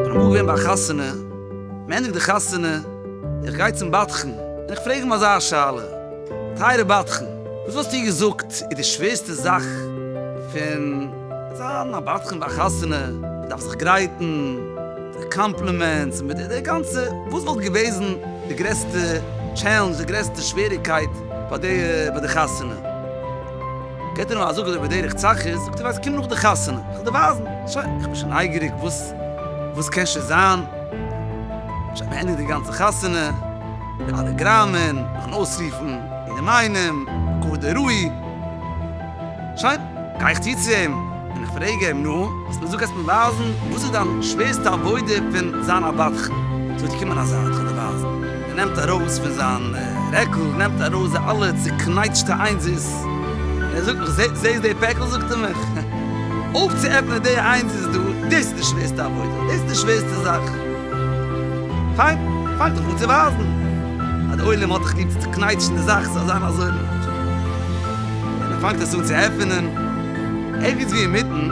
אמאל געווען ביי א חתונה, מ'ענדיגט די חתונה, איך גיי צום בדחן און איך פרעג אים אזא שאלה, טייערע בדחן, וואס וואלסטו געזאגט איז די שווערסטע זאך פון זיין א בדחן ביי א חתונה, מ'דארף זיך גרייטן, די קאמפלימענטס און מיט די גאנצע, וואס וואלט געוועזן די גרעסטע טשעלענדזש, די גרעסטע שוועריקייט ביי די ביי די חתונה? געט ער אים א זאג אזוי בדרך צחות, זאגט ער ווייסט קום נאך די חתונה כ'וועל דיר ווייזן, שוין איך בין שוין נייגעריג וואס וואס קען שוין זיין, שוין מען ענדיגט די גאנצע חתונה, די אלע גראמען, נאכן אויסרופן יענעם איינעם, כבוד הראי'. שוין, גיי איך צו צו אים און איך פרעג אים, נו, האסט מיר געזאגט אז מיר ווייזן, וואס איז דיין שווערסטע עבודה פון זיין א בדחן? זאגט ער, קום אריין זיי אן חדר ווייזן. ער נעמט ארויס פון זיין רעקל, נעמט ארויס די אלע צוקנייטשטע איינזערס, און ער זאגט מיך, זעסט די פעקל, זאגט ער מיך, אויפצועפענען די איינזערס דא, דאס איז די שווערסטע עבודה, דאס איז די שווערסטע זאך. פיין, פאנג דיך אן צו ווייזן אז די עולם האט דיך ליב, צוקנייטשן די זאך ס'זאל זיין אזוי ווי מ'וויל. און ער פאנגט עס אן צו עפענען, ערגעץ ווי אינמיטן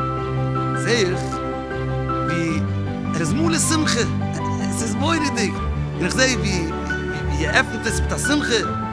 זע איך ווי ער איז מלא שמחה, עס איז מורא'דיג, און איך זע ווי ער עפנט עס מיט א שמחה.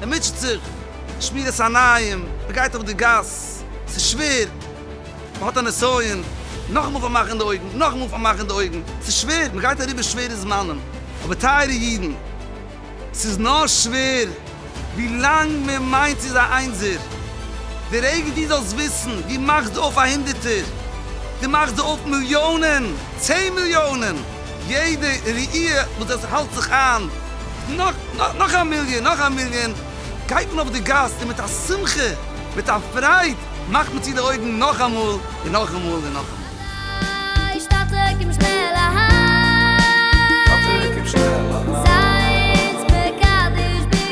מען מוטשעט זיך, שמירת עיניים, מען גייט אויף די גאס, ס'איז שווער, מען האט א נסיון, נאכאמאל פארמאכן די אויגן, נאכאמאל פארמאכן די אויגן, ס'איז שווער, מען גייט אריבער שווערע זמנים, אבער טייערע אידן, ס'איז נאר שווער ווי לאנג מען מיינט ס'איז א איינזער, דער אייגער דו זאלסט וויסן, דו מאכסט אויף א הונדערטער, דו מאכסט אויף מיליאנען. צען מיליאנען! יעדע ראי' וואס עס האלט זיך איין, נאך, נאך, נאך א מיליאן, נאך א מיליאן, גייט מען אויף די גאס און מיט א שמחה, מיט א פרייד, מאכט מען צו די אויגן נאכאמאל און נאכאמאל און נאכאמאל. אהיי, שטאטער קום שנעל אהיי. שטאטער קום שנעל אהיי. זייטס מקדש בקדשו.